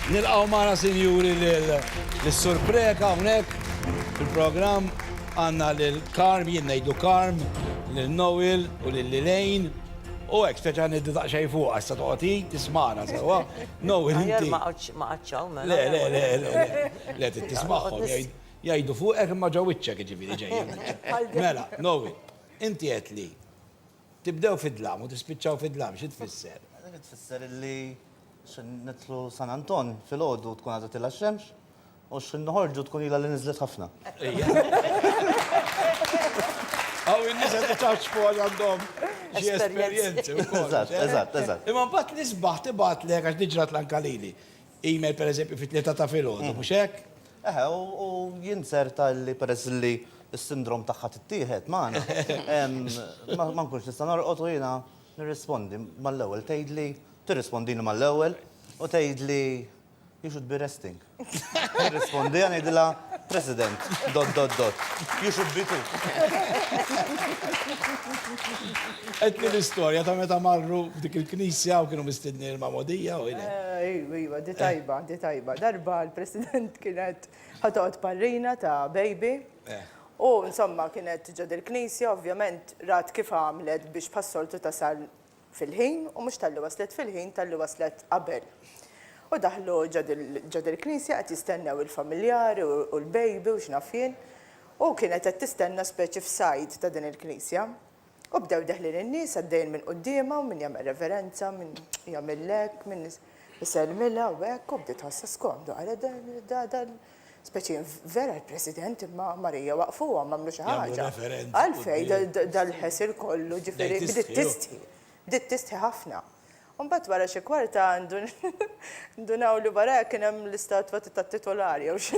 Nilqgħu magħna sinjuri lis-Sur Preca hawnhekk fil-programm. Għandna lil Karm, jien ngħidlu Karm, lil Noel u lil Lilejn. U hekk speċa niddu daqsxejn fuq għassa toqgħod tismana sewwa. Noel inti. Ma qaċċaw mela. Le, le, le, le. Le tismagħhom jgħidu fuqek imma ġo wiċċek jiġifieri ġejjin. Mela, Noel, inti qed li. Tibdew fid-dlam u tispiċċaw fid-dlam, xi tfisser? Din tfisser li x'ħin nidħlu San Anton filgħodu tkun għadha tilgħa x-xemx u x'ħin noħorġu tkun ilha li niżlet ħafna. Hawn in-nies qed iċaċċfu għax għandhom xi esperjenzi wkoll. Eżatt, eżatt, eżatt. Imma mbagħad l-isbaħ tibgħatlek għax din ġratli anke lili. email pereżempju fit-tlieta ta' filgħodu, mhux hekk? Eħe, u jien ċerta li peress li s-sindrom tagħha tittieħed magħna, ma nkunx nista' norqod u jiena nirrispondi mal-ewwel tgħidli, tirrispondini mal-ewwel u tgħidli you should be resting. Nirrispondiha ngħidilha President, dot dot dot. You should be too. Għedtni l-istorja ta' meta marru f'dik il-knisja u kienu mistednin il-magħmudija u ilek. Ejwa, ejwa, di tajba, di tajba. Darba l-President kien qed ħa toqgħod parrina ta' baby u insomma kienet ġo dil-knisja ovvjament rat kif għamlet biex bħas-soltu tasal fil-ħin u mhux talli waslet fil-ħin talli waslet qabel. U daħlu ġod il-knisja qed jistennew il-familjari u l-baby u x'naf jien. U kienet qed tistenna speċi f'sajd ta' din il-knisja. U bdew deħlin in-nies għaddejjin minn quddiemha u min jagħmel reverenza, min jagħmilha hekk, min isellmilha u hekk u bdiet tħossha skomdu qalet da da Speċi vera l-President imma Marija waqfuhom għamlu xi ħaġa. Għalfej dal-ħesir kollu ġifieri bdiet tistħi. Bdiet tistħi ħafna. Mbagħad wara xi kwarta ndunaw li wara kien hemm l-istatwa tat-titular jew xi.